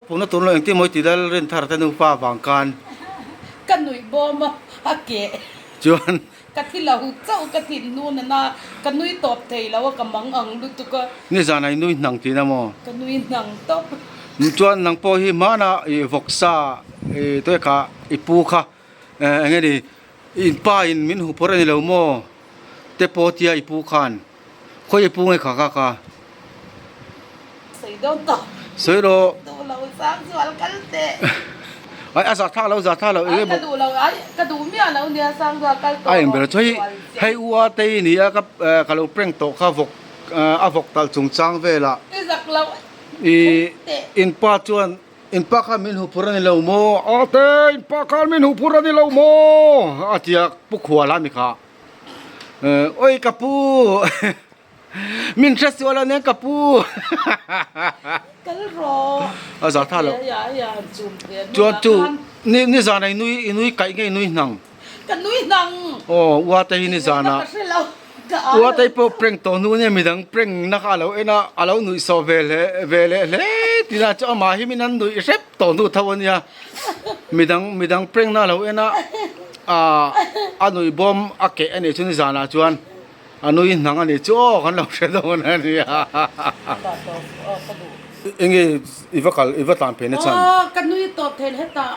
Pumna tur lo engti mawi ti lal rin thar ka nupa vang khan. Ka nuih bawm a, a keh. Chuan. Ka thi lo chauh ka thin hnu na na ka nui tawp thei lo a ka mang ang lutuk a. Nge zan a i nui hnang ti na maw? Ka nui hnang tawp. Chuan nang pawh hi hmana i vawksa i tuek a i pu kha. Eh enge ni, i in pa in min hupawrh a ni lo maw? te pawh tia i pu khan, Khawi i pu nge kha kak a. Sawidawn tawh. Sawilaw. Duh lo sang zual kal teh. Ai a za tha lo za tha lo enge bawk. Ai ka duh lo ai ka duh miah lo nia sang zual kal tawh. A en bera thuai hei u atei i ni a ka ka lo prank tawh kha vawk a vawk tal chungchang velah. I zak lo. I in pa chuan. In pa khan min huphur a ni lo maw? Ate, in pa khan min huphur a ni lo maw? a ti a Pu Khuala mi kha. Eh, awi ka pu, min hre sual a nen ka pu. Kal rawh. A za tha lo. Chuan chu, ni zan a i nui, i nui kaih nge i nui hnang? Ka nui hnang. Aw uatei hi ni zan a. Ka hre lo. Ka â lo. Uatei pawh prank tawh hnu ania midang prank na kha a lo en a, a lo nuih sawh ve hle ve leh hle tina chuan amah hi min an nuih hrep tawh hnu tho ania. Midang midang prank na a lo en a ahh a nuih bawm a keh a nih chu ni zanah chuan a nui hnang a nih chu aw kan lo hre dawn a nia hahahaha. Enge i va kal i va tlan phe nachhan. Aw ka nui tawh theih hle tah.